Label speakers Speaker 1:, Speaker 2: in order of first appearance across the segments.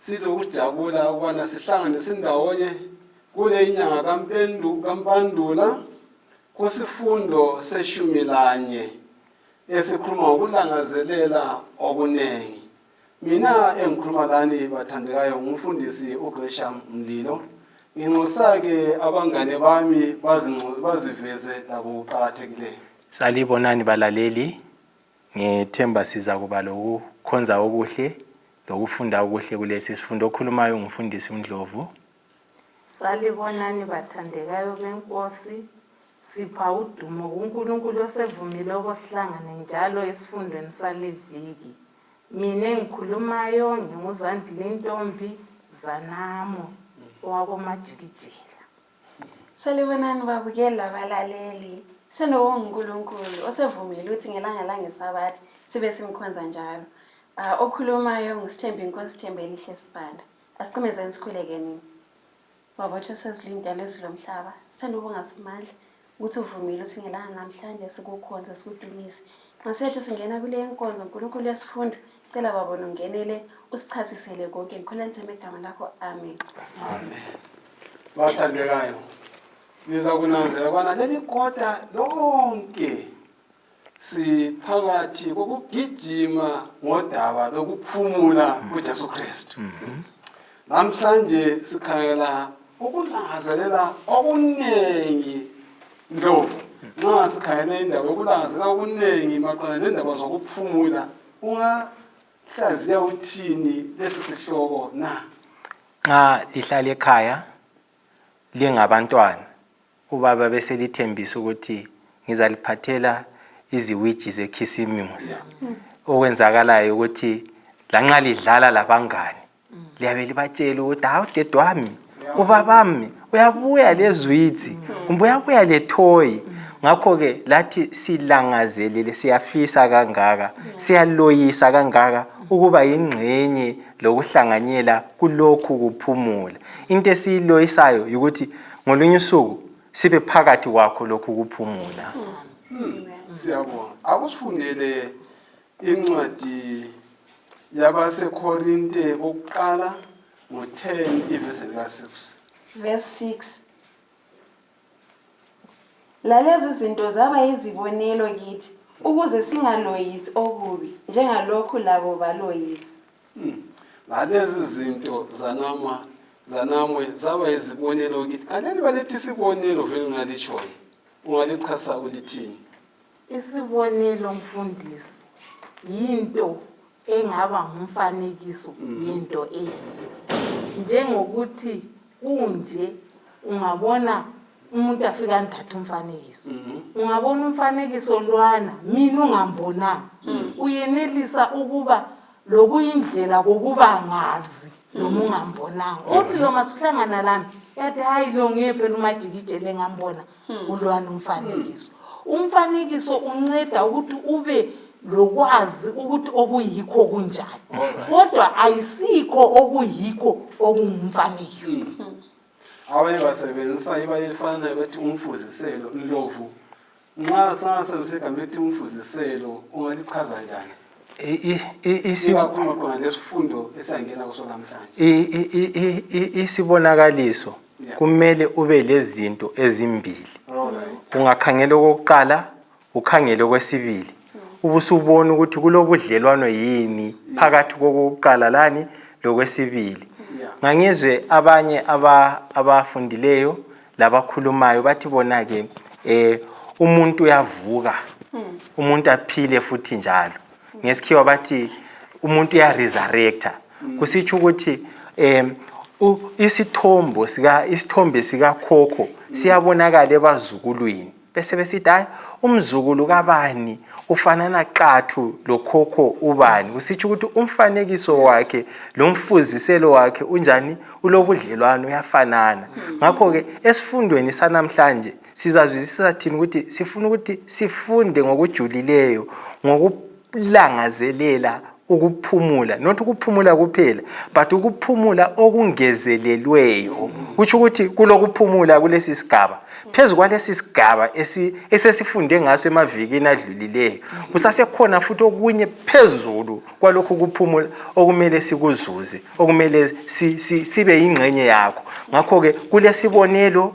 Speaker 1: silokujabula ukubana sihlangane sindawonye kule inyanga kampandula kusifundo seshumi lanye esikhuluma ngokulangazelela okuningi mina engikhuluma lani bathandekayo ngumfundisi ugresham mlilo nginxusa-ke abangane bami baziveze labo kuqakathekileyo salibonani
Speaker 2: balaleli Ngithemba sizakuba lokukhonza okuhle lokufunda okuhle kulesi sifundo. Okhulumayo ngumfundisi uNdlovu.
Speaker 3: Salibonani bathandekayo beNkosi. Sipha udumo kuNkulunkulu osevumile okosihlangane njalo esifundweni saliviki. Mina engikhulumayo nginguzandile intombi Zanamo owakomajikijela.
Speaker 4: Salibonani babukeli labalaleli. Senowo nguNkulunkulu osevumile ukuthi ngelanga langesabathi sibe simkhonza njalo. Ah, okhulumayo ngusithembi inkosi Thembelihle Sibanda. Asiqimezeni sikhulekenini. Babotho sezilindele izwi lomhlaba. Sanibonga Somandla. ukuthi uvumile ukuthi ngelanga namhlanje sikukhonze sikudumise nxa siyathi singena kule nkonzo nkulunkulu yesifundo cela babo nongenele usichasisele konke ngikhula nithembe igama lakho amen amen
Speaker 1: bathandekayo niza kunanzela kwana leli kota lonke siphakathi kokugijima ngodaba lokuphumula kuJesu Kristu namhlanje sikhangela ukulangazelela okuningi ndlovu nxa sikhangele indaba yokulangazelela okuningi maqondana nendaba zokuphumula ungahlaziya uthini lesi sihloko na nxa
Speaker 2: lihlala ekhaya lingabantwana Ubaba beselithembisa ukuthi ngizaliphathela iziwiji zekhisimusi. Okwenzakalayo ukuthi lanxa lidlala labangani liyabe libatshela ukuthi hawu dedwami ubabami uyabuya lezwidzi kumbe uyabuya lethoyi ngakho-ke lathi silangazelele siyafisa kangaka siyaloyisa kangaka ukuba yingxenye lokuhlanganyela kulokhu kuphumula into esiyiloyisayo yikuthi ngolunye usuku sibe phakathi kwakho lokhu kuphumula
Speaker 1: siyabonga akusifundele incwadi yabasekorinte bokuqala ngo-10 ivesi lika-6 verse 6
Speaker 4: lalezi zinto zaba yizibonelo kithi ukuze singaloyisi okubi njengalokhu labo baloyisa hmm.
Speaker 1: ngalezi zinto zanama zanamwe zaba yizibonelo kithi kanjani balethi isibonelo vele unalitshoni ungalichasa ulithini isibonelo
Speaker 3: mfundisi yinto engaba ngumfanekiso hmm. yento eyiyo njengokuthi kunje ungabona umuntu afika anithathe umfanekiso mhm. ungabona umfanekiso lwana mina ungambonanga mhm. uyenelisa ukuba lokuyindlela kokuba ngazi noma mhm. ungambonanga uthi lo masuhlangana lami yathi hayi lo ngephe lumajikijele ngambona hmm. ulwana umfanekiso umfanekiso unceda ukuthi ube lokwazi ukuthi okuyikho kunjani kodwa ayisikho okuyikho okungumfanekiso hmm.
Speaker 1: abanye basebenzisa iba elifanayo bethi umfuziselo inlovu nxa singasebenzisa igama elithi umfuziselo ungalichaza njani isibonakaliso
Speaker 2: kumele ube lezinto ezimbili ungakhangela okokuqala ukhangele okwesibili ubusubona ukuthi kulobudlelwano yini phakathi kokokuqala lani lokwesibili ngangizwe abanye abafundileyo labakhulumayo bathi bona-ke um umuntu uyavuka hmm. umuntu aphile futhi njalo ngesikhiwa bathi umuntu uyaresurrecta hmm. kusitsho ukuthi um isithombo isithombe sikakhokho siyabonakala ebazukulwini besebesithi hayi umzukulu kabani ufanana qathu lokhokho ubani kusitsho ukuthi umfanekiso wakhe lomfuziselo wakhe unjani ulobudlelwano uyafanana hmm. ngakho-ke esifundweni sanamhlanje sizazwisisa thini ukuthi sifuna ukuthi sifunde ngokujulileyo Langazelela ukuphumula not ukuphumula kuphela but ukuphumula okungezelelweyo kutsho ukuthi kulokuphumula kulesi sigaba phezu kwalesi sigaba esesifunde ngaso emavikini adlulileyo kusasekhona futhi okunye phezulu kwalokhu kuphumula okumele sikuzuze okumele sibe yingxenye yakho ngakho-ke kulesibonelo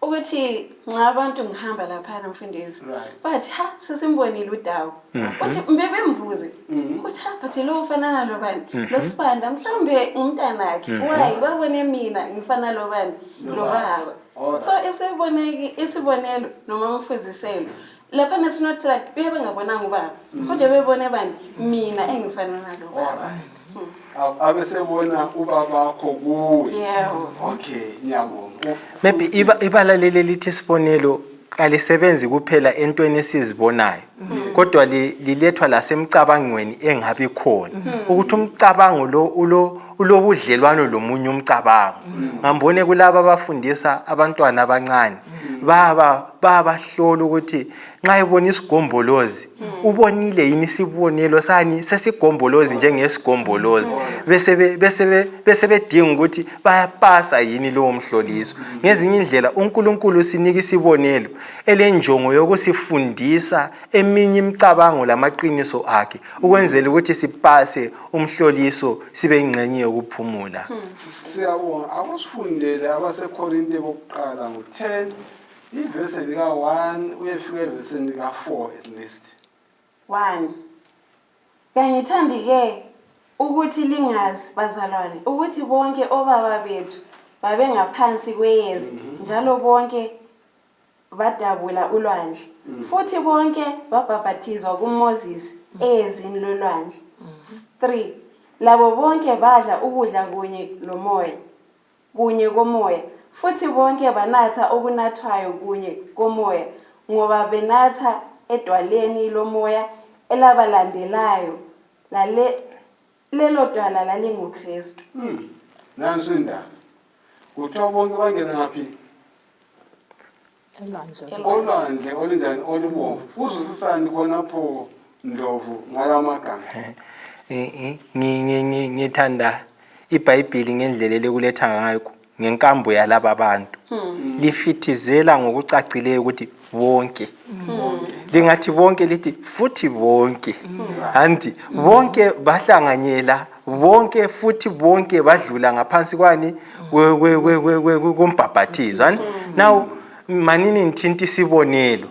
Speaker 4: ukuthi nxa abantu ngihamba laphana mfundisi bathi ha sesimbonile udawu kuthi mhm. mbe bembuze mhm. kuthi ha bathi lo ufanana lobani mhm. lo sibanda mhlawumbe umntanakhe wayi babone mina ngifana lobani lobaba oh, so isibonelo noma umfuziselo lapha na it's not like bebe bengabonanga ubaba mm. kodwa bebone bani mina engifana nalo baba hmm.
Speaker 1: abesebona ubabakho kuwe yebo okay ngiyabonga maybe iba
Speaker 2: ibala leli lithi isibonelo kalisebenzi kuphela entweni esizibonayo mm-hmm. kodwa lilethwa lasemcabangweni engabi khona mm-hmm. ukuthi umcabango lo ulo ulobudlelwano lomunye umcabango mm. ngambone kulaba abafundisa abantwana abancane mm. baba babahlola ukuthi nxa ebona isigombolozi mm. ubonile yini isibonelo sani sesigombolozi njengesigombolozi besebedinga ukuthi bayapasa yini lowo mhloliso ngezinye indlela unkulunkulu sinika isibonelo elenjongo yokusifundisa eminye imicabango lamaqiniso akhe ukwenzela ukuthi sipase umhloliso sibe ingxenye yokuphumula siyabonga
Speaker 1: akusifundele abasekorinte bokuqala ngo-10 ivesi lika-1 uyefika evesini lika-4 at least 1
Speaker 4: kangithandi ke ukuthi lingazi bazalwane ukuthi bonke obaba bethu babengaphansi kweyezi mhm. njalo bonke badabula ulwandle mm. futhi bonke babhabhathizwa kumoses mm. eyezini lolwandle mm. three labo bonke badla ukudla kunye lomoya kunye komoya futhi bonke banatha okunathwayo kunye komoya ngoba benatha edwaleni lomoya elabalandelayo lale lelo dwana lalinguKristu hmm. nansi
Speaker 1: indaba kuthiwa bonke bangena ngaphi olwandle olunjani olubomvu uzwisisani khonapho ndlovu ngala magama eh, eh,
Speaker 2: ngithanda ibhayibhili ngendlela elikuletha ngayo ngenkambo yalaba bantu hmm. lifithizela ngokucacileyo ukuthi bonke hmm. lingathi bonke lithi futhi bonke hmm. anti bonke bahlanganyela bonke futhi bonke badlula ngaphansi kwani kombhabhathizo now manini ngithinta isibonelo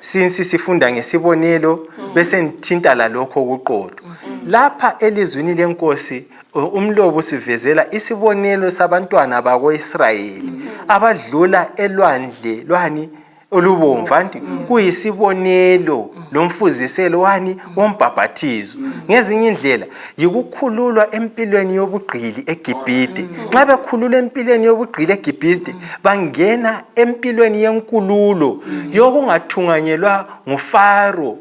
Speaker 2: sinsi sifunda ngesibonelo bese ngithinta lalokho okuqotho lapha elizwini lenkosi uh, umlobo usivezela isibonelo sabantwana bako-israyeli abadlula elwandle lwani olubomvu anti kuyisibonelo lomfuziselo wani wombhabhathizo ngezinye indlela yikukhululwa empilweni yobugqili egibhide nxa bekhululwa empilweni yobugqili egibhide bangena empilweni yenkululo yokungathunganyelwa ngufaro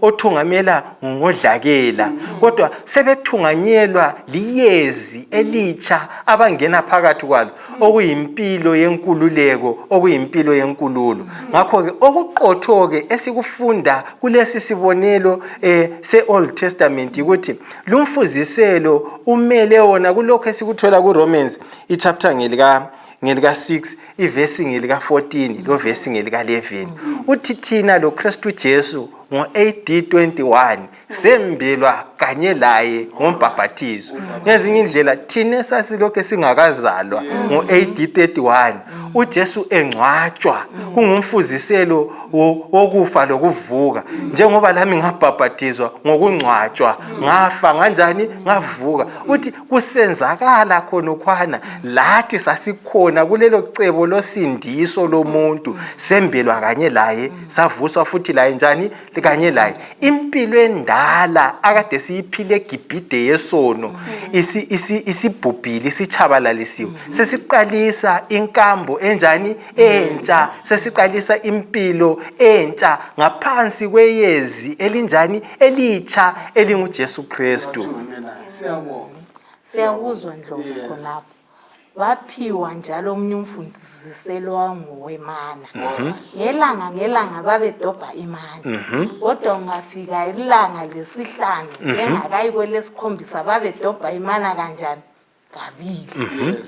Speaker 2: othungamela ngodlakela kodwa sebethunganyelwa liyezi elitsha abangena phakathi kwalo okuyimpilo yenkululeko okuyimpilo yenkululo ngakho-ke okuqotho-ke esikufunda kulesi sibonelo um se-old testament ukuthi lumfuziselo umele wona kulokhu esikuthola kuromans ichapter ngelika ngelika-6 ivesi ngelika-14 lovesi ngelika-11 uthi thina lokristu jesu ngo-ad 21 sembelwa kanye laye ngombhabhathizo ngezinye indlela thina esasilokhu singakazalwa ngo-ad 31 ujesu engcwatshwa kungumfuziselo wokufa lokuvuka njengoba lami ngabhabhathizwa ngokungcwatshwa ngafa nganjani ngavuka uthi kusenzakala khonokhwana lathi sasikhona kulelo cebo losindiso lomuntu sembelwa kanye laye savuswa futhi laye njani kanye laye impilo endala akade siyiphile egibhide yesono isibhubhile isitshabalalisiwe mm-hmm. sesiqalisa inkambo enjani entsha sesiqalisa impilo entsha ngaphansi kweyezi elinjani elitsha elingujesu kristu
Speaker 3: siyakuzwa ndlovu khonapho waphiwa njalo omunye umfundisiselo wangowemana mhm. ngelanga ngelanga babedobha imana mhm. kodwa ungafika ilanga lesihlanu mhm. engakayi kwelesikhombisa babedobha imana kanjani kabili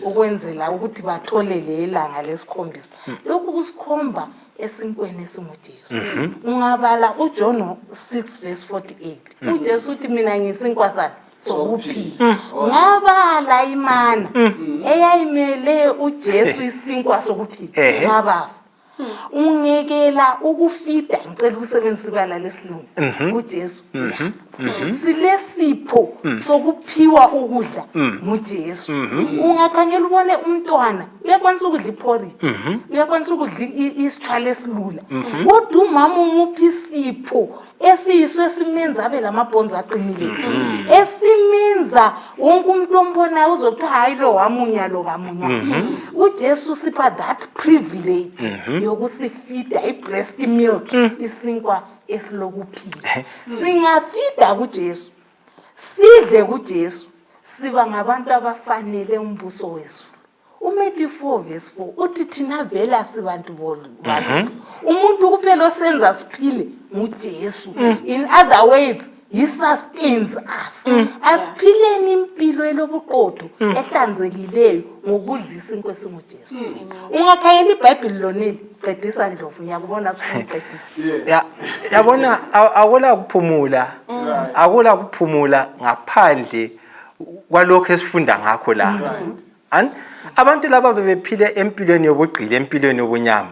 Speaker 3: ukwenzela ukuthi batholele ilanga lesikhombisa lokhu kusikhomba esinkweni esingujesu ungabala ujohn 6 vs 48 ujesu uthi mina ngiyisinkwa sani sokuphila ngoba layimana mm. eyayimele uJesu isinkwa sokuphila ngabafa ungekela ukufida ngicela ukusebenzisa ibala lesilungu mhm. uJesu mhm. Mhm. silesipho mm. sokuphiwa ukudla mm. nguJesu ungakhangela ubone umntwana uyakwanisa ukudla iporridge uyakwanisa ukudla isithwala esilula kodwa umama umuphi isipho esiyiso esimenza abe lamabhonzo aqinile mhm. esimenza wonke umuntu ombonayo uzokuthi hayi lo wamunya lo kamunya mhm. ujesu sipha that privilege mhm. yokusifida i-breast milk mm. isinkwa esilokuphila eh. singafida kujesu sidle kujesu siba ngabantu abafanele umbuso wezulu umatthew 4 verse 4 uthi thina vela sibantu bolu mhm. umuntu kuphela osenza siphile ngujesu mm. in other words he sustains us mm. asiphileni impilo elobuqotho mm. ehlanzekileyo ngokudla isinkwa esingujesu ungakhayela ibhayibhile lonile qedisa ndlovu ngiyakubona sifuna uqedisa ya yabona
Speaker 2: akula kuphumula akula kuphumula ngaphandle kwalokho esifunda ngakho la Ani? abantu laba bebephile empilweni yobugqili empilweni yobunyama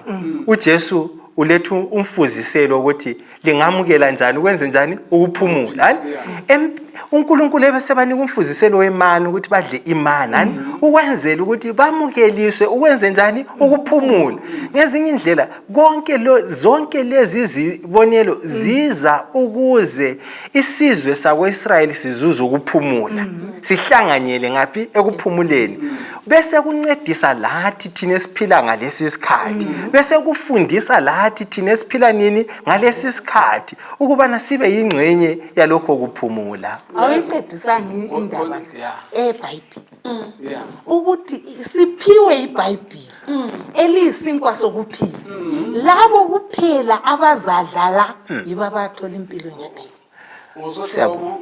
Speaker 2: ujesu uletha umfuziselo ukuthi lingamukela njani ukwenze njani ukuphumula ani Em- unkulunkulu ebesebanika umfuziselo wemani ukuthi badle imani ani ukwenzela ukuthi bamukeliswe ukwenze njani ukuphumula ngezinye indlela konke lo- zonke lezi zibonelo ziza ukuze isizwe sakwa-israyeli sizuza ukuphumula mm -hmm. sihlanganyele ngaphi ekuphumuleni mm -hmm. bese kuncedisa lathi thina esiphila ngalesi sikhathi mm -hmm. bese kufundisa lathi thina esiphila nini ngalesi sikhathi ukubana sibe yingxenye yalokho kuphumula awuyincedisani
Speaker 3: indaba ebhayibhile mm. ukuthi siphiwe ibhayibhili mm. eliyisinkwa sokuphila mm. labo kuphela abazadlala yibo abathola impilo ngempela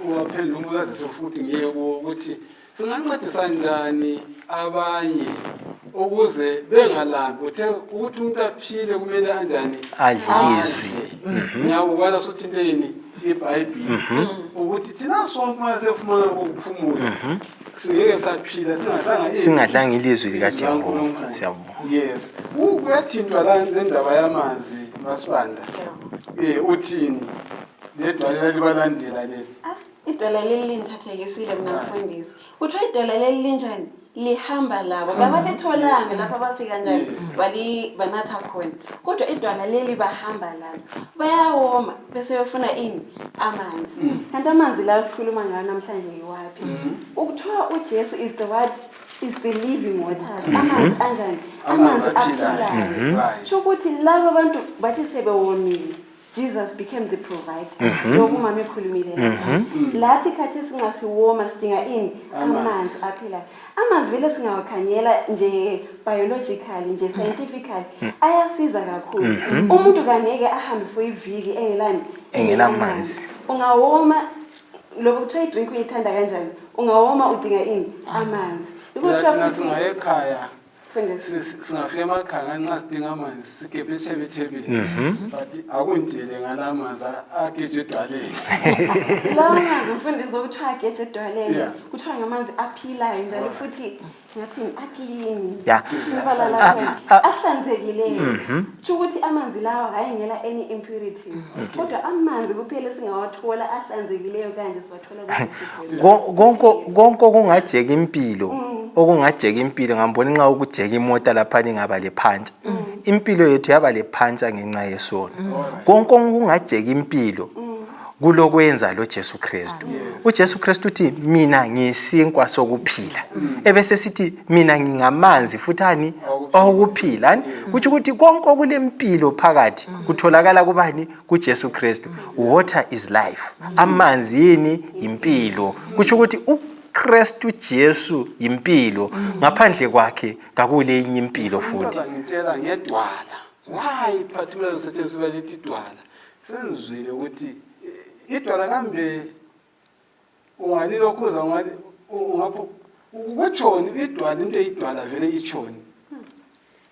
Speaker 3: uwaphela
Speaker 1: umkazise futhi ngiye kuwo ukuthi singancedisa njani abanye ukuze bengalambi uthe ukuthi umuntu aphile kumele anjani adlizwe
Speaker 2: mhm. ngiyakubona
Speaker 1: sothinteni ibhayibhile mhm. ukuthi thina sonke uma sefumana lokuphumula mhm. singeke saphila singadlanga singadlanga
Speaker 2: ilizwi likajehova siyabonga yes
Speaker 1: kuyathintwa la lendaba yamanzi masibanda um uthini ledwalela libalandela leli ah, idwala leli
Speaker 4: lindithathekisile mna mfundisi kuthiwa idwala leli linjani lihamba labo kabathetholanga lapho abafika njani banatha khona kodwa idwala leli bahamba lalo bayawoma bese uyofuna ini amanzi mm. kanti amanzi lawo sikhuluma ngawo namhlanje yiwaphi mm. ukuthiwa ujesu is the what is the living water mm-hmm. amanzi anjani amanzi aphilayo mm-hmm. sho ukuthi laba bantu bathi sebewomile jesus became the provider mm-hmm. lokhu mama ekhulumile lathi khathi singasiwoma sidinga ini amanzi aphilayo amanzi vele singawakhangela nje biologically nje mm. scientifically mm. ayasiza kakhulu mm-hmm. umuntu kangeke ahambe for iviki engelani engelamanzi ungawoma lokho kuthiwa idrink uyithanda kanjani ungawoma udinga ini amanzi Thina
Speaker 1: singayekhaya singafika amakhanga nxa sidinga amanzi sigebhe esithebethebeni mhm. but akundele ngala amanzi ageje edwaleni lawo
Speaker 4: manzi mfundisi okuthiwa ageje edwaleni kuthiwa ngamanzi aphilayo njalo futhi ngathi aklini ibala lakhe ahlanzekileyo kusho mhm. ukuthi amanzi lawa hhayi ngela any impurities mhm. kodwa amanzi kuphela esingawathola ahlanzekileyo kanje konke
Speaker 2: okungajeka impilo mm. okungajeka impilo ngambona nxa ukujeka imota lapha lingaba lephantsha mm. impilo yethu yaba lephantsha ngenxa yesono mm. konke okungajeka impilo kulokwenza lo Jesu Kristu u Jesu Kristu uthi mina ngisinkwa sokuphila mm. ebese sithi mina ngingamanzi futhi ani okuphila kuthi ukuthi konke okulempilo phakathi mm. kutholakala kubani kuJesu Kristu water is life amanzi yini yimpilo kutsho ukuthi uKristu Jesu yimpilo ngaphandle kwakhe kakule enye impilo futhi ngitshela ngedwala
Speaker 1: why particularly usetshenziswa lithi idwala sengizwile ukuthi eh, idwala kambe ungani lokhuza ungani ungapho kwetshoni idwala into eyidwala vele itshoni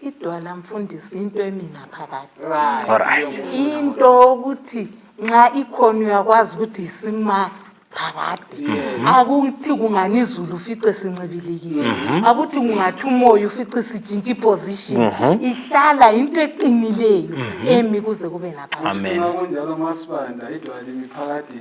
Speaker 3: idwala mfundisi into emina phakathi right
Speaker 2: into
Speaker 3: ukuthi nxa ikhona uyakwazi ukuthi isima phakade mhm. akuthi kungani izulu ufice sincibilikile mhm. akuthi kungathi umoya ufice sitshintsha iposition mhm. ihlala into eqinileyo emi kuze kube naphakade kunjalo
Speaker 2: masibanda
Speaker 1: idwala imiphakade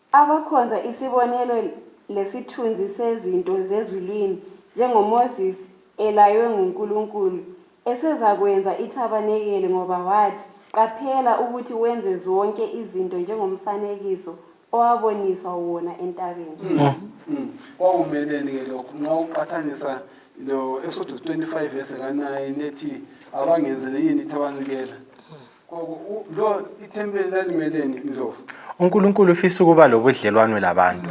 Speaker 1: Abakhonza
Speaker 4: isibonelo lesithunzi sezinto zezulwini njengoMoses elaywe nguNkulunkulu esezakwenza ithabanekeli ngoba wathi, Qaphela ukuthi wenze zonke izinto njengomfanekiso owaboniswa wona entabeni.
Speaker 1: Kwakumeleni-ke lokhu nxa uqathanisa lo-Exodus 25 verse ka-9 ethi abangenzele yini ithabanekela? unkulunkulu ufisa
Speaker 2: ukuba lobudlelwano labantu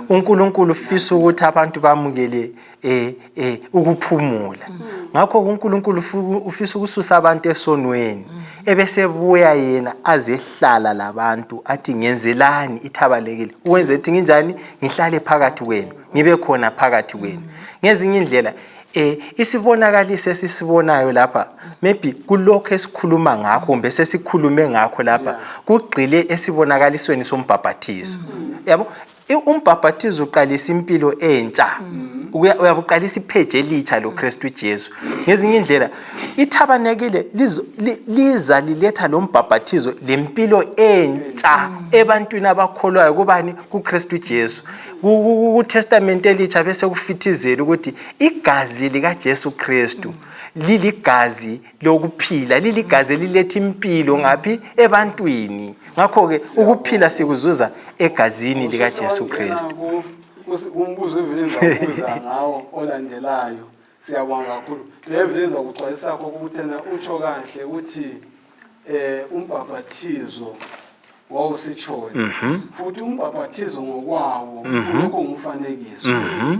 Speaker 2: unkulunkulu ufisa ukuthi abantu bamukele um um ukuphumula mm. ngakho unkulunkulu ufisa ukususa abantu esonweni mm. ebesebuya yena azehlala labantu athi ngenzelani ithabalekile ukwenza ethi nginjani ngihlale phakathi kwenu ngibe khona phakathi kwenu mm. ngezinye indlela Eh isibonakaliso esisibonayo lapha maybe kulokho esikhuluma ngakho kumbe sesikhulume ngakho lapha kugxile esibonakalisweni sombhabhathizo. Mm. Yabo umbhabhathizo uqalisa impilo entsha. Mm. Uyabuqalisa ipheje elitsha lo Kristu Jesu. Ngezinye indlela ithabanekile liza liletha lo mbhabhathizo lempilo entsha mm. ebantwini abakholwayo kubani kuKristu Jesu. KuTestament elitsha besekufithizela ukuthi igazi likaJesu Kristu mm. liligazi lokuphila liligazi eliletha impilo ngaphi ebantwini ngakho ke ukuphila sikuzuza egazini lika Jesu Kristu umbuzo
Speaker 1: evilenza ukuza ngawo olandelayo siyabonga kakhulu le evilenza kuxwayisa kokho ukuthi utsho kahle ukuthi eh umbhabhathizo wawusitshoni mhm. futhi umbhabhathizo ngokwawo mhm. lokho ngumfanekiso mhm.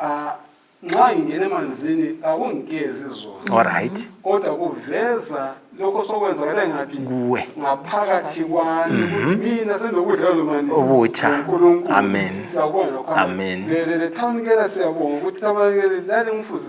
Speaker 1: ah, nxa ngingena emanzini akungigezi zona olright kodwa
Speaker 2: kuveza
Speaker 1: lokho sokwenzakala ngaphi kuwe ngaphakathi kwami ukuthi mina sendokudla lomani obutsha
Speaker 2: amen siyabonga lokho
Speaker 1: amen le le
Speaker 2: thawunikela
Speaker 1: siyabonga ukuthi sabanekele lale ngumfuzi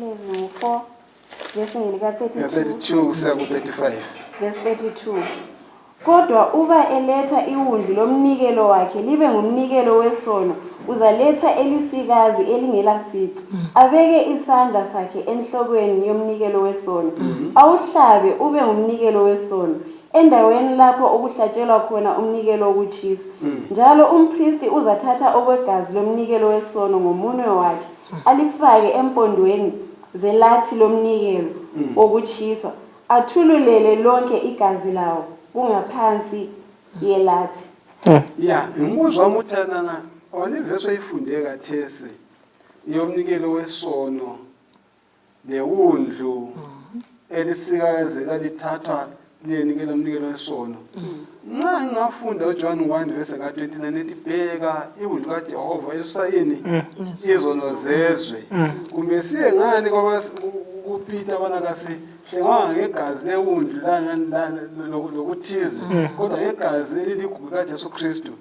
Speaker 1: 11 4 verse ngelika
Speaker 4: 32 32 kusiya ku-35 verse
Speaker 1: 32
Speaker 4: kodwa uba eletha iwundlu lomnikelo wakhe libe ngumnikelo wesono uzaletha elisikazi elingelasici abeke isandla sakhe enhlokweni yomnikelo wesono awuhlabe ube ngumnikelo wesono endaweni lapho okuhlatshelwa khona umnikelo wokutshiswa njalo umphristi uzathatha okwegazi lomnikelo wesono ngomunwe wakhe alifake empondweni zelathi lomnikelo wokutshiswa athululele lonke igazi lawo kungaphansi yelathi ya
Speaker 1: ngimbuzo wami ukuthi anana ona iverse oyifunde kathesi yomnikelo wesono newundlu mm. elisikazi elalithathwa liyenikela umnikelo wesono mm. nxa ngingafunda ujohn 1 vese ka-29 ethi bheka iwundlu kajehova esusayini mm. izono zezwe kumbe siye ngani kupita bona kasihlengwanga ngegazi lewundlu lokuthize kodwa ngegazi eliligugu kajesu kristu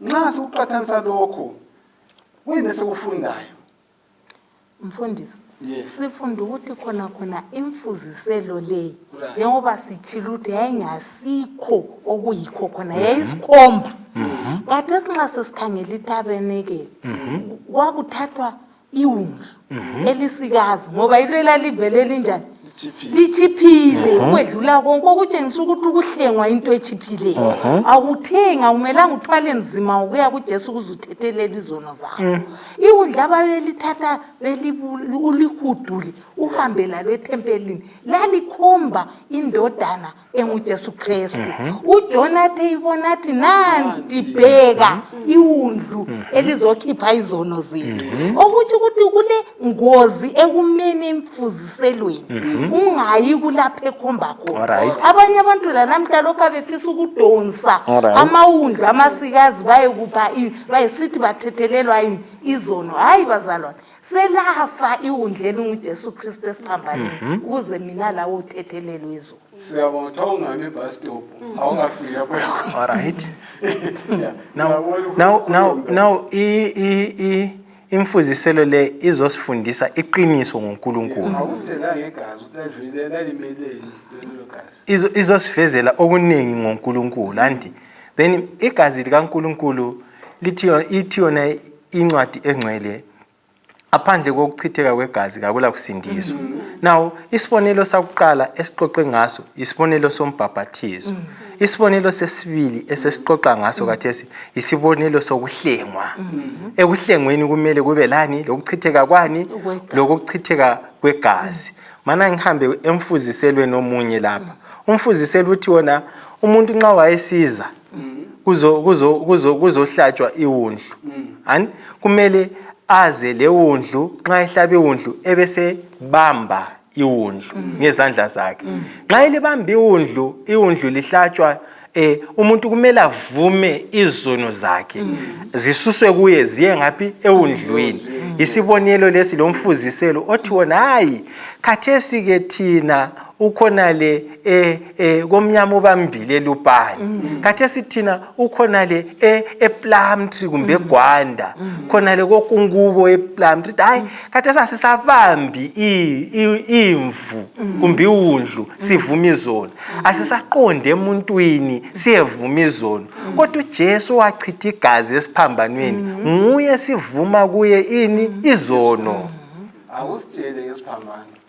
Speaker 1: nxa sikuqathanisa lokho kuyini esikufundayo
Speaker 3: Mfundisi, yes.
Speaker 1: sifunda ukuthi khona
Speaker 3: khona imfuziselo le right. njengoba sithile ukuthi yayingasikho okuyikho khona mhm. yayisikhomba mhm. kade esinxa sesikhangela itabenekele mhm. kwakuthathwa iwundlu elisikazi ngoba yilo elalivele linjani litshiphile ukwedlula konke okutshengisa ukuthi ukuhlengwa into etshiphileyo awuthengi awumelanga uthwale nzima ukuya kujesu ukuze uthethelela izono zakho mm. iwundla babelithatha ulihudule uhambe lalo ethempelini lalikhomba indodana engujesu kristu mhm. ujona athe ibona athi nanti bheka mhm. iwundlu mhm. elizokhipha izono zethu okutsho ukuthi kule ngozi ekumeni emfuziselweni ungayi kulapho ekhomba khona abanye abantu lanamhla lokhu abefisa ukudonsa amawundlu amasikazi bayekupha bayesithi bathethelelwa yini izono hhayi bazalwane selafa iwundla elingujesu kristu esiphambaneni mhm. ukuze mina lawo uthethelelwe izulu siyabona kuthiwa ungami
Speaker 1: ebus stop awungafiki lapho yakho alright
Speaker 2: now imfuziselo le izosifundisa iqiniso ngonkulunkulu
Speaker 1: izosivezela
Speaker 2: okuningi ngonkulunkulu anti then igazi likankulunkulu lithi yona incwadi engcwele aphandle kokuchitheka kwegazi kakula kusindiswa mm -hmm. now isibonelo sakuqala esiqoqe ngaso isibonelo sombhabhathizo mm -hmm. isibonelo sesibili esesixoxa ngaso mm -hmm. kathesi isibonelo sokuhlengwa mm -hmm. ekuhlengweni kumele kube lani lokuchitheka kwani lokuchitheka kwegazi mm -hmm. mana ngihambe emfuziselweni omunye lapha mm -hmm. umfuziselo uthi wona umuntu nxa wayesiza mm. kuzohlatshwa kuzo, kuzo, kuzo iwundlu mm. kumele aze lewundlu nxa ehlaba iwundlu ebesebamba iwundlu mm. ngezandla zakhe mm. nxa elibamba iwundlu iwundlu lihlatshwa eh umuntu kumele avume izono zakhe mm. zisuswe kuye ziye ngaphi ewundlwini mm. isibonelo lesi lomfuziselo othi wona hayi khathesi ke thina ukhona le eh eh komnyama ubambile elupani mm. khathesi thina ukhonale e, eplumtree kumbe mm. egwanda mm. khonale kokungubo eplumtree hayi khathesi asisabambi imvu kumbe iwundlu sivuma izono asisaqonde emuntwini siyevuma izono kodwa ujesu wachitha igazi esiphambanweni nguye sivuma kuye ini izono akusitshele
Speaker 1: ngesiphambano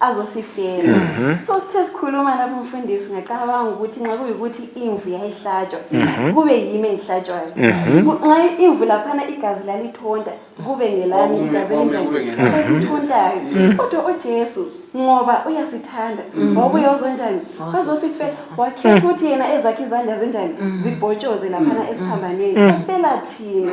Speaker 4: azosifela so sithe sikhuluma lapho umfundisi ngacabanga ukuthi nxa kuyikuthi imvu yayihlatshwa kube yimi engihlatshwayo Ku- nxa imvu laphana igazi lalithonta kube ngelami Kwakume- igazi kwakume elinjani? kube ngelami. Elithontayo. kodwa ujesu ngoba uyasithanda wabuye uzonjani azosifela wakhetha ukuthi yena ezakhe izandla zinjani zibhotshoze laphana esiphambanweni afela thina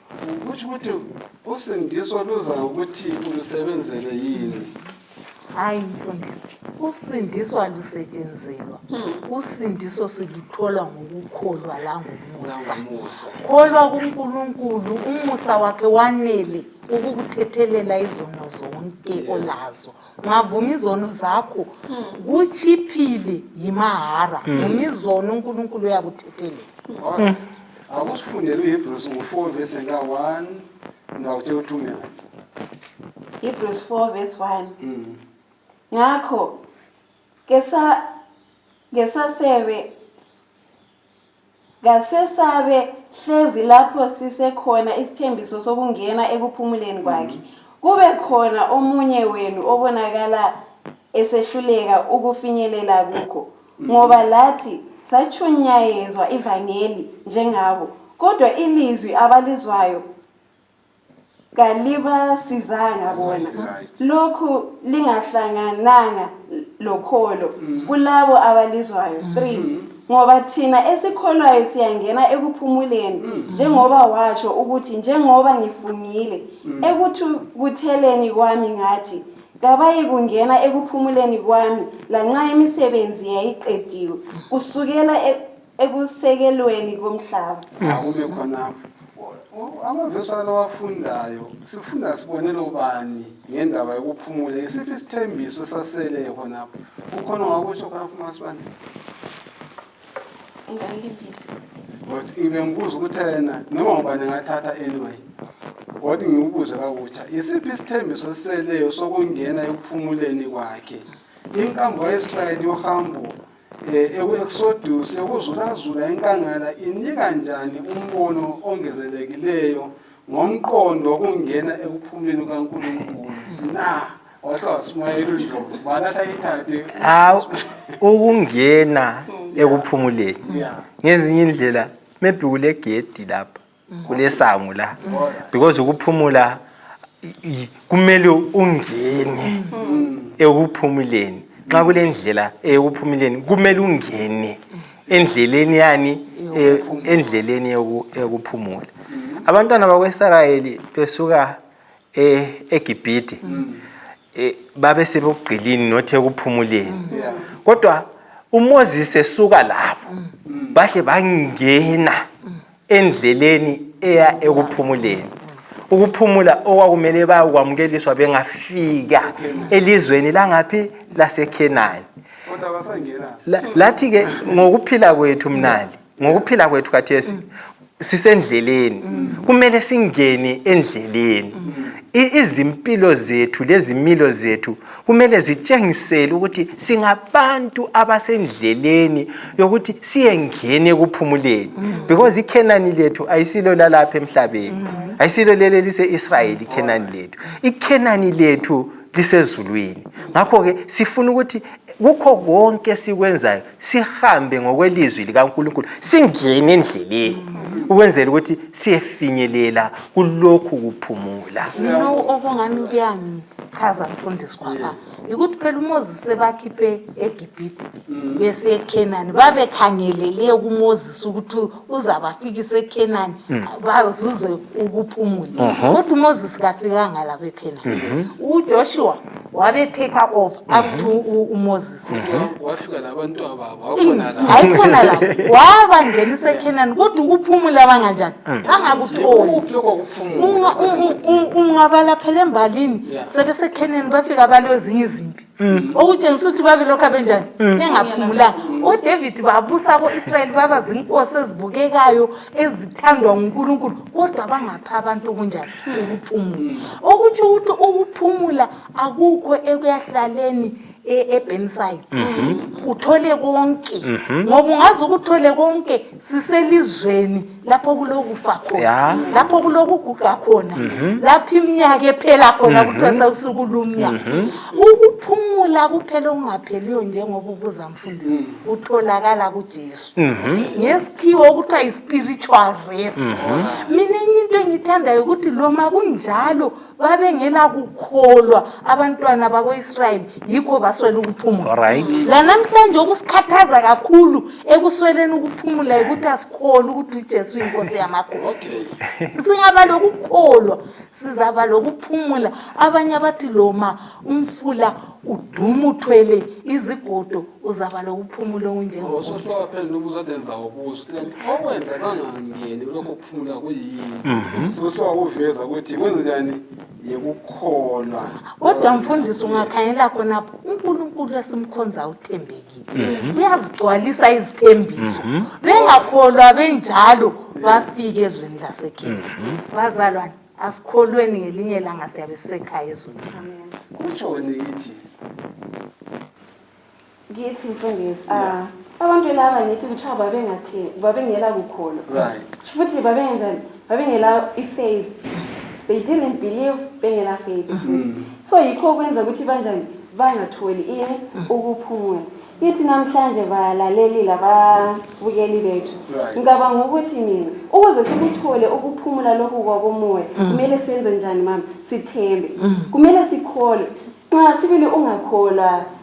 Speaker 1: kutsho ukuthi usindiso luza ngokuthi ulusebenzele yini hayi
Speaker 3: mfundisi usindiswa lusetshenzelwa hmm. usindiso siluthola ngokukholwa langomusa kholwa kunkulunkulu umusa wakhe wanele ukukuthethelela izono zonke olazo ngavuma izono zakho hmm. kutshiphile yimahara hmm. vuma izono unkulunkulu uyakuthethelela
Speaker 1: akusifundele uhebrews ngo-four verse ka-one ndawuthe uthumela
Speaker 4: hebrews 4 verse 1 mm. ngakho kesa kesasebe kasesabe hlezi lapho sisekhona isithembiso sokungena ekuphumuleni kwakhe mm. kube khona omunye wenu obonakala esehluleka ukufinyelela kukho ngoba lathi satshunyayezwa ivangeli njengabo kodwa ilizwi abalizwayo kalibasizanga bona Right. lokhu lingahlangananga lokholo Mhm. kulabo abalizwayo three ngoba thina esikholwayo siyangena ekuphumuleni Mhm. njengoba watsho ukuthi njengoba ngifungile ekuthukutheleni kwami ngathi kabayikungena ekuphumuleni kwami lanxa imisebenzi yayiqediwe kusukela e- ekusekelweni komhlaba akume khonapho
Speaker 1: amavesi alawafundayo sifunda sibonela ubani ngendaba yokuphumula isiphi isithembiso esaseleyo khonapho ukhona wakutsho khonapho masibane Ngangilibile. But ngibengibuza ukuthi yena noma ubani engathatha anyway. Kodwa ngiwubuze kakutsha isiphi isithembiso esiseleyo sokungena ekuphumuleni kwakhe. Inkambo kaIsrayeli yohambo eh, eku-Exodus yokuzulazula enkangala inika njani umbono ongezelelekileyo ngomqondo wokungena ekuphumuleni kukaNkulunkulu na wahle wasimayela uNdlovu bani asayithathe hawu ukungena
Speaker 2: ekuphumuleni Yeah. ngezinye indlela maybe kule gedi lapha kulesango la because ukuphumula i- i- kumele ungene ekuphumuleni nxa kulendlela eyokuphumuleni kumele ungene endleleni yani e- endleleni yoku- yokuphumula abantwana bakweisrayeli besuka e- egibhide e, babe sebugqilini nothi ekuphumuleni Yeah. kodwa umoses esuka labo bahle bangena endleleni eya ekuphumuleni ukuphumula okwakumele bayokwamukeliswa bengafika elizweni langaphi lasekhenani
Speaker 1: lathi-ke
Speaker 2: ngokuphila kwethu mnali ngokuphila kwethu khathesi sisendleleni kumele singene endleleni izimpilo zethu lezimilo zethu kumele zitshengisele ukuthi singabantu abasendleleni yokuthi siyengene ekuphumuleni mm. because ikhenani lethu ayisilo lalapha emhlabeni mm. ayisilo leli elise-israyeli ikhenani lethu ikhenani lethu lisezulwini ngakho-ke sifuna ukuthi kukho konke esikwenzayo sihambe ngokwelizwi likaNkulunkulu singene endleleni ukwenzela ukuthi siyefinyelela kulokhu kuphumula Lowo okungani
Speaker 3: kuyangichaza mfundisi kwaba yikuthi phela uMoses sebakhiphe eGibhide besiye eKhenani babekhangelele kuMoses ukuthi uzabafikisa eKhenani bazuze ukuphumula kodwa uMoses kafikanga lapha eKhenani uJoshua wabe take over after u- u- uMoses wafika
Speaker 1: labantwa babo wakhona la hayi khona la
Speaker 3: wabangena isekhenani kodwa ukuphumula banganjani bangakutholi ukuphi lokho kuphumula Unga- u- u- u- ungabala phela embalini Yeah. sebesekheneni bafika balo ezinye izimpi okutshengisa ukuthi babelokhu abenjani bengaphumulanga odavid babusa ko-israyeli baba zinkosi ezibukekayo ezithandwa ngunkulunkulu kodwa bangapha abantu okunjani ukuphumula okutsho ukuthi ukuphumula akukho ekuyahlaleni e- eBurnside uthole konke ngoba ungaze ukuthole konke siselizweni lapho kulokufa khona Ya. lapho kulokuguga khona lapho iminyaka ephela khona kuthiwa sekusuku lumnyaka ukuphumula kuphela okungapheliyo njengoba ubuza mfundisi utholakala kujesu ngesikhiwo okuthiwa yi-spiritual rest mina enye into engiyithandayo ukuthi loma kunjalo babengela kukholwa abantwana bako-israyeli yikho baswela ukuphumula right lanamhlanje okusikhathaza kakhulu ekusweleni ukuphumula yikuthi asikholwa ukuthi ujesu uyinkosi yamakhosi singaba lokukholwa sizaba lokuphumula abanye abathi loma umfula uduma uthwele izigodo uzaba lokuphumula okunjengokuphela ubuza
Speaker 1: denza ukuza uthi okwenza kangangeni lokho ukuphumula kuyini mhm. sokuthiwa kuveza ukuthi kwenzenjani yikukholwa kodwa
Speaker 3: mfundisi ungakhangela
Speaker 1: khona
Speaker 3: unkulunkulu esimkhonza uthembekile mhm. uyazigcwalisa izithembiso mhm. bengakholwa benjalo bafike ezweni lasekheni bazalwane asikholweni ngelinye langa siyabe sisekhaya ezweni kutshoni
Speaker 1: kithi
Speaker 4: ngithi mfundisi ah, abantu laba ngithi kuthiwa babengathi babengela kukholwa right futhi
Speaker 1: babengenjani
Speaker 4: babengela i-faith they didn't believe bengela faith Mm. so yikho kwenza ukuthi banjani bangatholi ini Mm. ukuphumula ithi namhlanje balalelile ababukeli bethu Right. ngicabanga ukuthi mina ukuze sikuthole ukuphumula lokhu kwakomoya Mm. kumele senze njani mama sithembe kumele sikholwe nxa sibili ungakholwa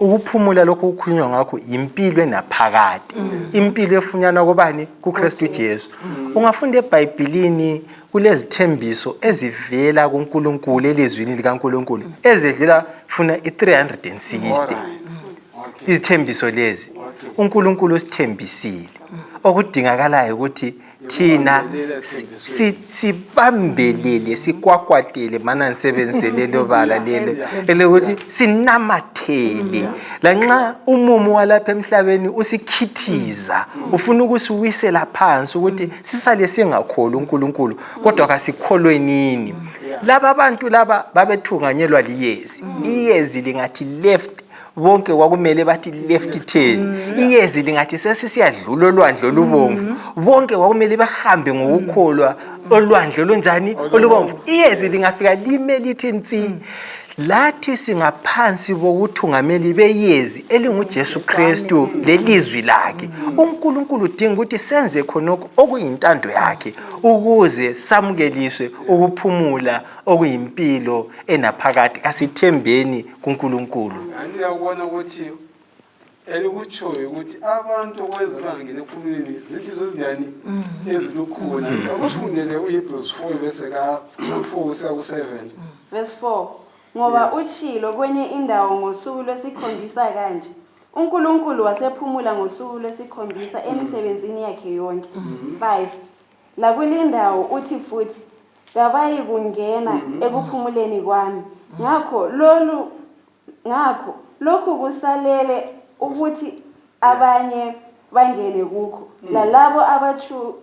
Speaker 2: ukuphumula lokhu kukhulunywa ngakho yimpilo enaphakade mm. impilo efunyanwa kobani kukristu jesu mm. ungafunda ebhayibhilini kulezithembiso ezivela kunkulunkulu elizwini likankulunkulu mm. ezedlula funa i-360 izithembiso lezi unkulunkulu usithembisile okudingakalayo ukuthi thina sibambelele sikwakwatele mana ngisebenzise lelo bala lelo elokuthi sinamathele lanxa umumo walapha emhlabeni usikhithiza ufuna ukusiwisela phansi ukuthi sisale singakholi unkulunkulu kodwa kasikholwenini laba bantu laba babethunganyelwa liyezi iyezi lingathi left bonke kwakumele bathi left turn mm. iyezi lingathi sesisiyadlula olwandle olubomvu mm-hmm. bonke kwakumele bahambe ngokukholwa mm. olwandle olunjani olubomvu iyezi lingafika lime lithi nsi mm. lathi singaphansi bokuthungameli beyezi elinguJesu Kristu lelizwi lakhe uNkulunkulu udinga ukuthi senze khonokho okuyintando yakhe ukuze samukeliswe ukuphumula okuyimpilo enaphakade kasithembeni kuNkulunkulu. Ngani ukubona
Speaker 1: ukuthi elikutshoyo ukuthi abantu okwenza bangangena ekhulumeni zinhliziyo ezinjani mm-hmm. ezilukhuni mm-hmm. akufundele uhebrews 4 verse ka-4 kusiya ku-7 verse 4
Speaker 4: ngoba yes. utshilo kwenye indawo ngosuku lwesikhombisa kanje unkulunkulu wasephumula ngosuku lwesikhombisa emisebenzini yakhe yonke 5 mm-hmm. lakulindawo uthi futhi kabayikungena mm-hmm. ekuphumuleni kwami mm-hmm. ngakho lolu ngakho lokhu kusalele ukuthi abanye bangene kukho mm. lalabo abatshu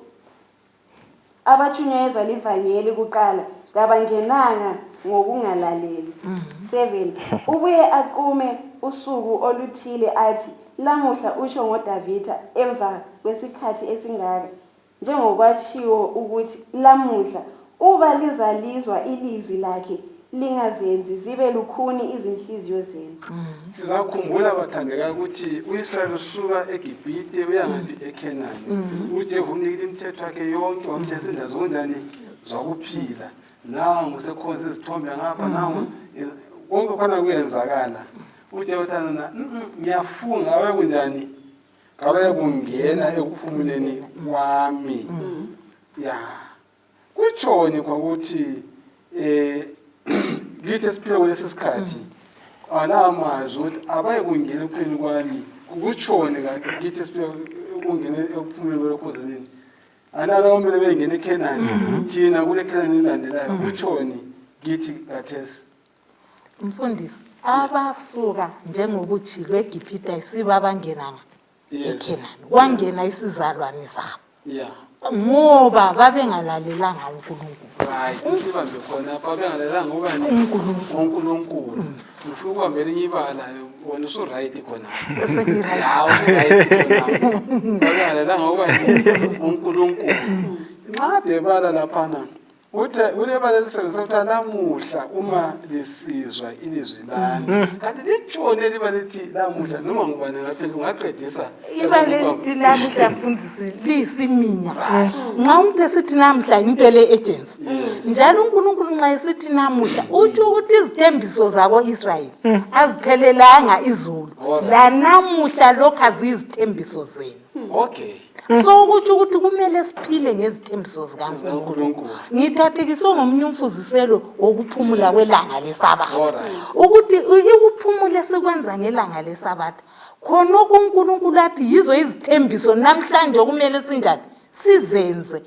Speaker 4: abatshunyayezwa livangeli kuqala kabangenanga ngokungalaleli mm. seven ubuye aqume usuku oluthile athi lamuhla usho ngodavida emva kwesikhathi esingaka Njengokwatshiwo ukuthi, Lamuhla, uba lizalizwa ilizwi lakhe, lingazenzi zibe lukhuni izinhliziyo zenu. Sizakhumbula
Speaker 1: bathandeka ukuthi uIsrayeli usuka eGibhite uyangaphi eKhenani. UJehu umnikile imithetho yakhe yonke wamtshengisa indawo zokunjani zokuphila. Nangu sekhonza izithombe ngapha nangu eh, konke khona kuyenzakala. UJehu uthana na "Mm, mm, ngiyafunga awe kunjani kawekungena ekuphumuleni kwami ya kutshoni kwakuthi eh ngithi esiphila kulesi sikhathi alawa mazwi ukuthi abayekungena ekuphileni kwami kutshoni ngithi esiphila ukungena ekuphumuleni kwelokhozaneni analawo kumele bengene ekhenani thina kule khenani elilandelayo kutshoni ngithi kathesi
Speaker 3: mfundisi abasuka njengokuthi lwegibhida isiba abangenanga ekhenani kwangena isizalwane sabo ngoba babengalalelanga unkulunkulu
Speaker 1: unkulunkulu ngifuna ukuhambela enye ibala wena usuright
Speaker 3: khonababengalalelanga
Speaker 1: uba unkulunkulu nxa debala laphana uthe kulebala elisebenzisa kuthiwa lamuhla uma lisizwa ilizwi lami mm-hmm. kanti litshoni eliba lithi lamuhla noma ngubani ngaphela ungaqedisa ibala elithi
Speaker 3: lamuhla mfundisi liyisimina mm-hmm. nxa umuntu esithi namuhla yinto ele-agency njalo unkulunkulu nxa esithi namuhla utsho ukuthi izithembiso zako-israyeli mm. aziphelelanga izulu lanamuhla
Speaker 1: lokhu
Speaker 3: aziyizithembiso zenu okay so ukuthi ukuthi kumele siphile ngezithembiso zikaNkulunkulu ngithathekiswe ngomunye umfuziselo wokuphumula kwelanga lesabatha ukuthi ukuphumula esikwenza ngelanga lesabatha khonokho uNkulunkulu athi yizo izithembiso namhlanje okumele sinjani sizenze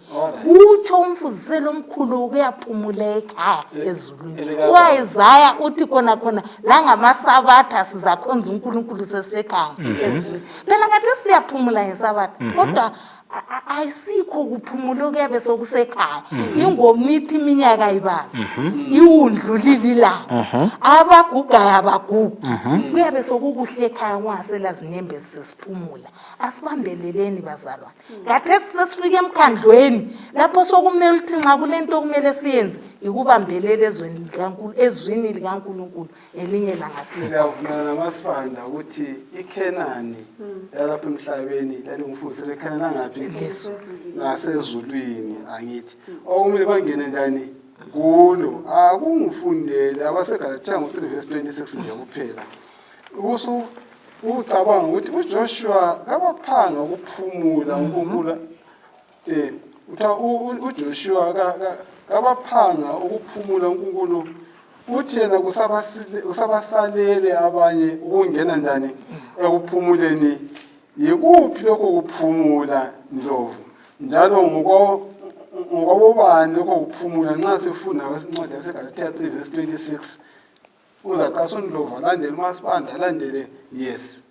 Speaker 3: kutsho umfuziselo omkhulu ukuyaphumula ekhaya ezulwini uwayizaya uthi khona khona langamasabatha sizakhonza uNkulunkulu sesekhaya mm-hmm. ezulwini phela ngathi siyaphumula ngesabatha mhm. kodwa ayisikho kuphumula okuyabe sokusekhaya mhm. ingomithi iminyaka ibala mhm. iwundlulile ilanga abagugayo abagugi kuyabe sokukuhle ekhaya kungasela zinyembezi sesiphumula asibambeleleni bazalwane ngathethi sesifika emkhandlweni lapho sokumele ukuthi nxa kule nto okumele siyenze yikubambelela ezwini likankulunkulu ngelinye ilanga sinika siyavumelana namasibanda
Speaker 1: ukuthi ikhenani yalapha emhlabeni lalingufuzi lekhenani langaphi Lesu. nasezulwini angithi okumele bangene njani kulo akungifundele abasegalatshaya ngo-3 vesi 26 nje kuphela usu ucabanga ukuthi ujoshua kabaphanga ukuphumula unkulunkulu Eh utha uJoshua kabaphanga ukuphumula uNkulunkulu uthi yena kusabasalele abanye ukungena njani ekuphumuleni yikuphi lokho kuphumula ndlovu njalo ngokwabobani lokho kuphumula nxa sifunda incwadi yasegalatiya 3 verse 26 uzaqasha undlovu alandele umasibanda alandele yes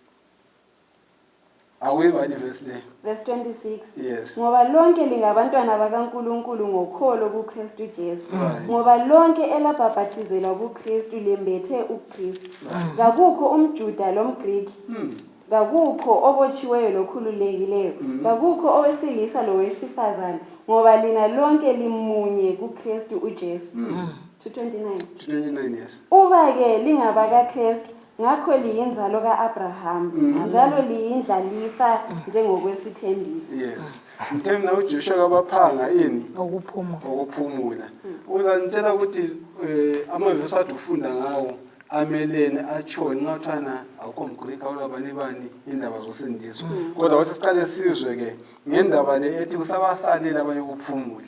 Speaker 1: awuye bani verse le verse 26
Speaker 4: yes ngoba
Speaker 1: lonke
Speaker 4: lingabantwana bakaNkuluNkulu ngokholo kuKristu Jesu Right. ngoba lonke elabhabhathizelwa kuKristu lembethe uKristu kakukho umJuda lomGriki Hmm. kakukho obotshiweyo lokhululekileyo Hmm. kakukho owesilisa lowesifazane ngoba lina lonke limunye kuKristu uJesu Hmm. 229 29 yes uba
Speaker 1: ke
Speaker 4: lingabakaKristu Ngakho liyinzalo ka-Abraham mm. njalo liyindlalifa njengokwesithembiso. Yes.
Speaker 1: Ngithe mina uJoshua kabaphanga ini? Ukuphumula. Ukuphumula. Mm. Uzanitshela ukuthi eh amavesi athi ufunda ngawo amelene atshoni ngathana akukho mgrika olabani bani indaba zosindiswa mm. kodwa wathi siqale sizwe ke ngendaba le ethi kusabasalela abanye ukuphumula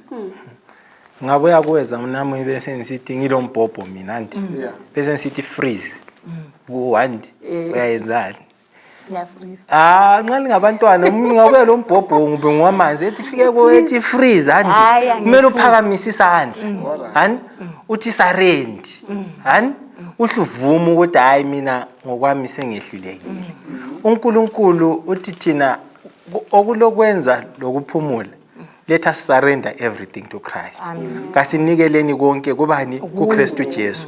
Speaker 2: ngabuya kuwe zamnami bese ngisithi ngilombhobho mina nti Yeah. bese ngisithi freeze kuwandi Eh. uyayenzani ngiyafrisa
Speaker 3: Ah, nxa
Speaker 2: ningabantwana umuntu ngabuya lo mbhobho ngube ngwamanzi ethi fike kuwe ethi freeze Hayi, handi angifuni. kumele uphakamise isandla hani uthi sarendi hani uhle uvume ukuthi hhayi mina ngokwami sengehlulekile unkulunkulu uthi thina ku- okulokwenza lokuphumula let us surrender everything to christ kasinikeleni konke kubani kukristu jesu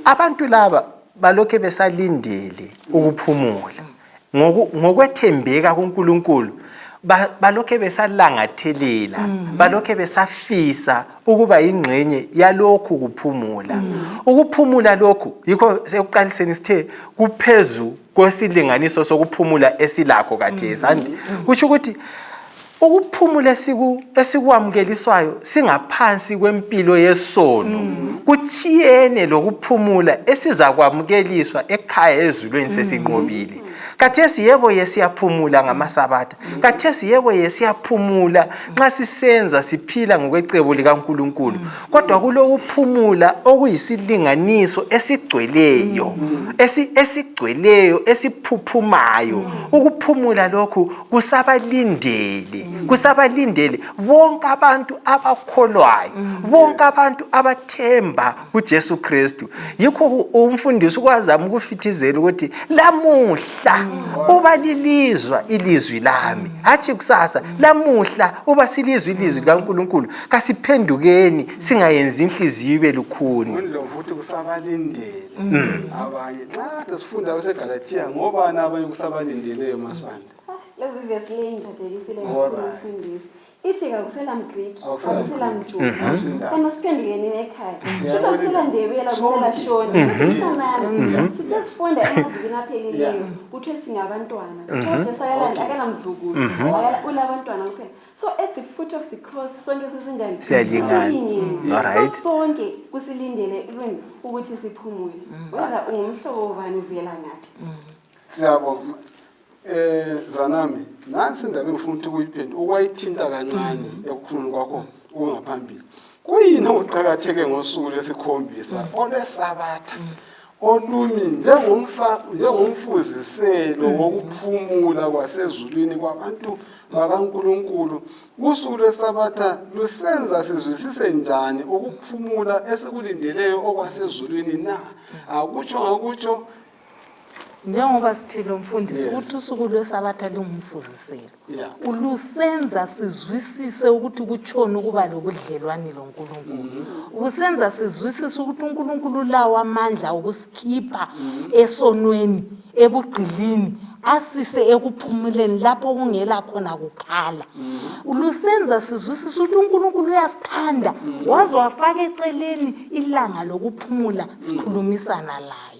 Speaker 2: abantu laba balokhe besalindele ukuphumula ngokwethembeka kunkulunkulu balokhe besalangathelela mm. balokhe besafisa ukuba yingxenye yalokhu kuphumula mm. ukuphumula lokhu yikho sekuqaliseni sithe kuphezu kwesilinganiso sokuphumula esilakho kathesi mm-hmm. andi mm-hmm. kutsho ukuthi ukuphumula esikwamukeliswayo singaphansi kwempilo yesono mm-hmm. kuthiyene lokuphumula esizakwamukeliswa ekhaya ezulweni sesinqobile khathesi yebo ye siyaphumula ngamasabatha Kathesi yebo ye siyaphumula nxa sisenza siphila ngokwecebo likaNkulunkulu kodwa kulokuphumula okuyisilinganiso esigcweleyo esi esigcweleyo esiphuphumayo ukuphumula lokhu kusabalindele kusabalindele bonke abantu abakholwayo bonke abantu abathemba kuJesu Kristu yikho umfundisi ukwazama ukufithizela ukuthi lamuhla uba lilizwa ilizwi lami hatshi kusasa lamuhla uba silizwa ilizwi likaNkulunkulu kasiphendukeni singayenzi inhliziyo ibe lukhuni futhi
Speaker 1: kusabalindele mm. abanye nxa kade sifunda abasegalatiya ngobani abanye kusabalindeleyo masibanda lezi vesi
Speaker 4: leyi ngithathekisile ngifundisi ithi kakusela mgriki Awukusela akusela mjuda Mhm. kana siphendukeni nekhaya futhi akusela ndebela kusela shoni isanani sithe sifunda emavikini aphelileyo kuthiwe singabantwana kuthiwa jesu akalandi akanamzukulu Akala- unabantwana kuphela so at the foot of the cross sonke sesinjani Siyalingana. Silingene.
Speaker 2: Alright. So sonke
Speaker 4: kusilindele even ukuthi siphumule whether ungumhlobo wobani
Speaker 1: uvela
Speaker 4: ngaphi siyabo eh
Speaker 1: zanami nansi indaba engifuna ukuthi kuyiphendula ukwayithinta kancane ekukhulumeni kwakho kungaphambili kuyini okuqakatheke ngosuku lwesikhombisa olwesabatha olumi njengomfa njengomfuziselo wokuphumula kwasezulwini kwabantu bakaNkuluNkulu usuku lwesabatha lusenza sizwisise njani ukuphumula esikulindeleyo okwasezulwini na akutsho ngakutsho
Speaker 3: njengoba sithile umfundisi Yes. ukuthi usuku lwesabatha lingumfuziselo Yeah. ulusenza sizwisise ukuthi kutshoni ukuba lobudlelwane lonkulunkulu usenza sizwisise ukuthi unkulunkulu ulawo amandla okusikhipha esonweni ebugqilini asise ekuphumuleni lapho kungela khona kukhala lusenza sizwisise ukuthi unkulunkulu uyasithanda waze wafaka eceleni ilanga lokuphumula sikhulumisana laye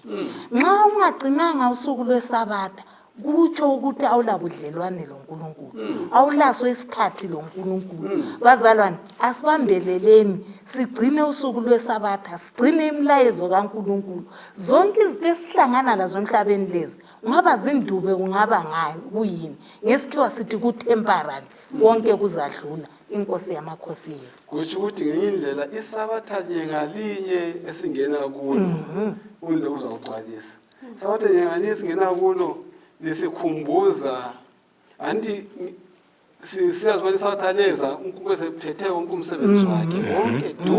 Speaker 3: nxa ungagcinanga usuku lwesabatha kutsho ukuthi awulabudlelwane lonkulunkulu hmm. awulaso isikhathi lonkulunkulu hmm. bazalwane asibambeleleni sigcine usuku lwesabatha sigcine imilayezo kankulunkulu zonke izinto esihlangana lazo emhlabeni lezi ungaba zindube kungaba ngani kuyini ngesikhiwa sithi kutemporary konke kuzadlula inkosi yamakhosi yethu kutsho ukuthi ngenye
Speaker 1: indlela isabatha nye ngalinye esingena kulo Mhm. undo uzawugcwalisa isabatha nye ngalinye esingena kulo lisikhumbuza anti si- siyazi ubana isabatha leza unkulunkulu esephethe wonke umsebenzi wakhe wonke du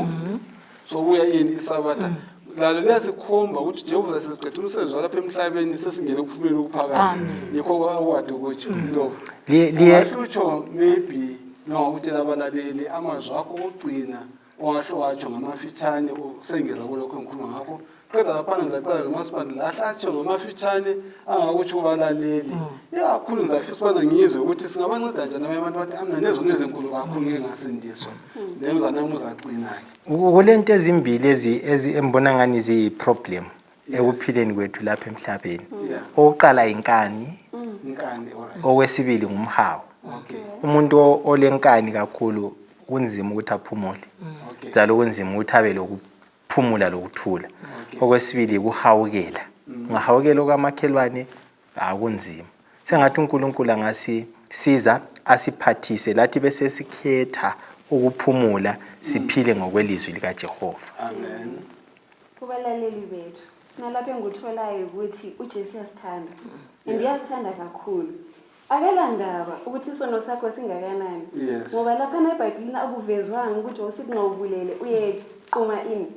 Speaker 1: sokuya yini isabatha mm. lalo liyasikhomba ukuthi jehova sesiqeda umsebenzi walapha emhlabeni sesingene kuphumela okuphakade yikho kwawadi ukutsho mm. lovo ungahlutsho maybe nongakutshela abalaleli amazwi akho okugcina ongahle watsho ngamafitshane usengeza kulokho engikhuluma ngakho qeda lapha ngizaqala lomasipandela ahle atsho ngamafitshane angakutsho kubalaleli ikakhulu ngizafisa ukubana ngizwe ukuthi singabanceda njani abanye abantu bathi amna nezona ezinkulu kakhulu ngeke ngasindiswa lemzanami uzaqina-ke kulento ezimbili
Speaker 2: ezi ezi- engibona ngani ziyi-problem ekuphileni kwethu lapha emhlabeni Yeah. owokuqala yinkani inkani alright okwesibili ngumhawu okay umuntu o- olenkani kakhulu kunzima ukuthi aphumule okay njalo kunzima ukuthi abe loku- phumula lokuthula okwesibili yikuhawukela mm. ungahawukela okwamakhelwane akunzima sengathi unkulunkulu angasisiza asiphathise lathi besesikhetha ukuphumula siphile ngokwelizwi likajehova amen
Speaker 1: kubalaleli
Speaker 4: bethu nalapho engikutholayo ukuthi ujesu uyasithanda and uyasithanda kakhulu akalandaba ukuthi isono sakho singakanani Yes. ngoba laphana ebhayibhilini akuvezwanga ukuthi wawusithi nxa ubulele uyequma ini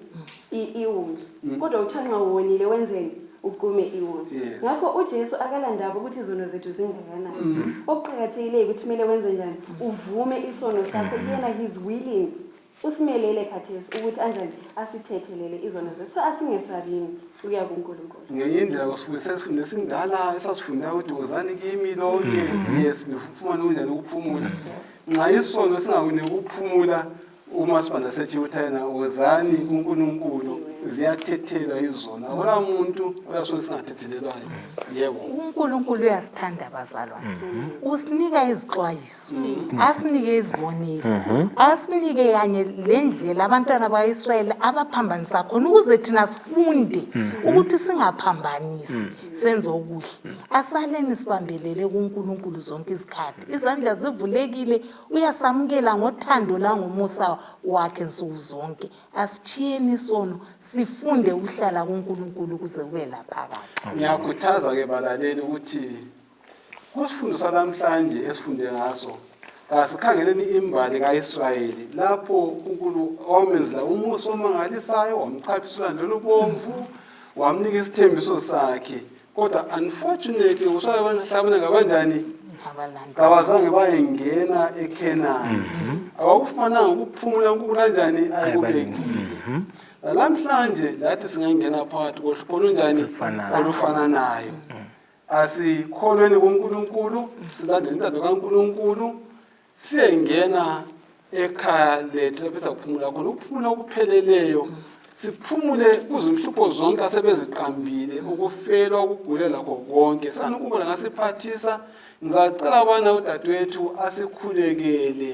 Speaker 4: I- iwundlu kodwa uthiwa nxa uwonile wenzeni uqume iwundlu Mm. Yes. Mm. ngakho ujesu akalandaba ukuthi izono zethu zingakanani okuqakathekileyo ukuthi kumele wenze njani uvume isono sakho yena he's willing usimelele khathesi ukuthi anjani asithethelele izono zethu so
Speaker 1: asingesabini ukuya kunkulunkulu ngenye indlela kusifundisa isifundo esindala esasifunda ukuthi wozani kimi lonke mm-hmm. yes nifumane kunjani ukuphumula nxa isono singakuniki ukuphumula umasibanda sethi uthayena wozani kunkulunkulu ziyathethelwa izona akula muntu oyasona singathethelelwayo yebo unkulunkulu
Speaker 3: uyasithanda bazalwane mm-hmm. usinika izixwayiso asinike izibonile mhm. asinike kanye lendlela abantwana baIsrayeli abaphambanisa khona ukuze thina sifunde mhm. ukuthi singaphambanisi mhm. senze okuhle asaleni sibambelele kuNkulunkulu zonke izikhathi izandla zivulekile uyasamukela ngothando langomusa wakhe nsuku zonke asitshiyeni isono sifunde ukuhlala kuNkulunkulu ukuze kube laphakathi ngiyakhuthaza ke
Speaker 1: balaleli ukuthi Kusifundo salamhlanje esifunde ngaso kasikhangeleni imbali kaIsrayeli lapho uNkulunkulu wamenzela umusa omangalisayo wamchaphisa ulwandle olubomvu wamnika isithembiso sakhe kodwa unfortunately uswayo kwenhlabona ngabanjani kabazange bayengena ekhenani mhm. abakufumananga ukuphumula unkulunkulu anjani ayikubekile mhm. nalamhlanje lathi singangena phakathi kohlupho olunjani olufananayo asikholweni kuNkulunkulu silandele intando kaNkulunkulu siyengena ekhaya lethu lapho esakuphumula khona ukuphumula okupheleleyo siphumule kuzinhlupho zonke asebeziqambile ukufelwa ukugula lakho konke sani ukubona ngasiphathisa ngizacela abana udadewethu asikhulekele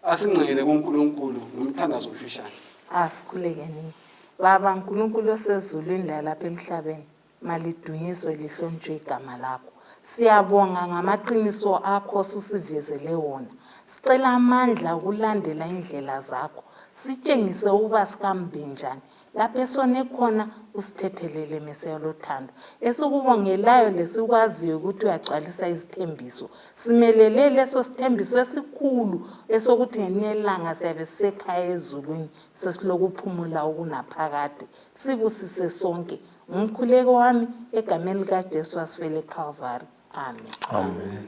Speaker 1: asingcengele kuNkulunkulu ngomthandazo ofishane asikhulekeni
Speaker 3: baba nkulunkulu osezulwini lalapha emhlabeni Malidunyiswe lihlonitshwe igama lakho. Siyabonga ngamaqiniso akho osusivezele wona. Sicela amandla okulandela indlela zakho. Sitshengise ukuba sikambi njani. Lapho esone khona usithethelele Mesiya lothando. Esikubongelayo lesikwaziyo ukuthi uyagcwalisa izithembiso. Simelele leso sithembiso esikhulu esokuthi ngelinye ilanga siyabe sisekhaya ezulwini sesilokuphumula okunaphakade. Sibusise sonke ngumkhuleko wami egameni likajesu wasifele calvary amen, amen. amen.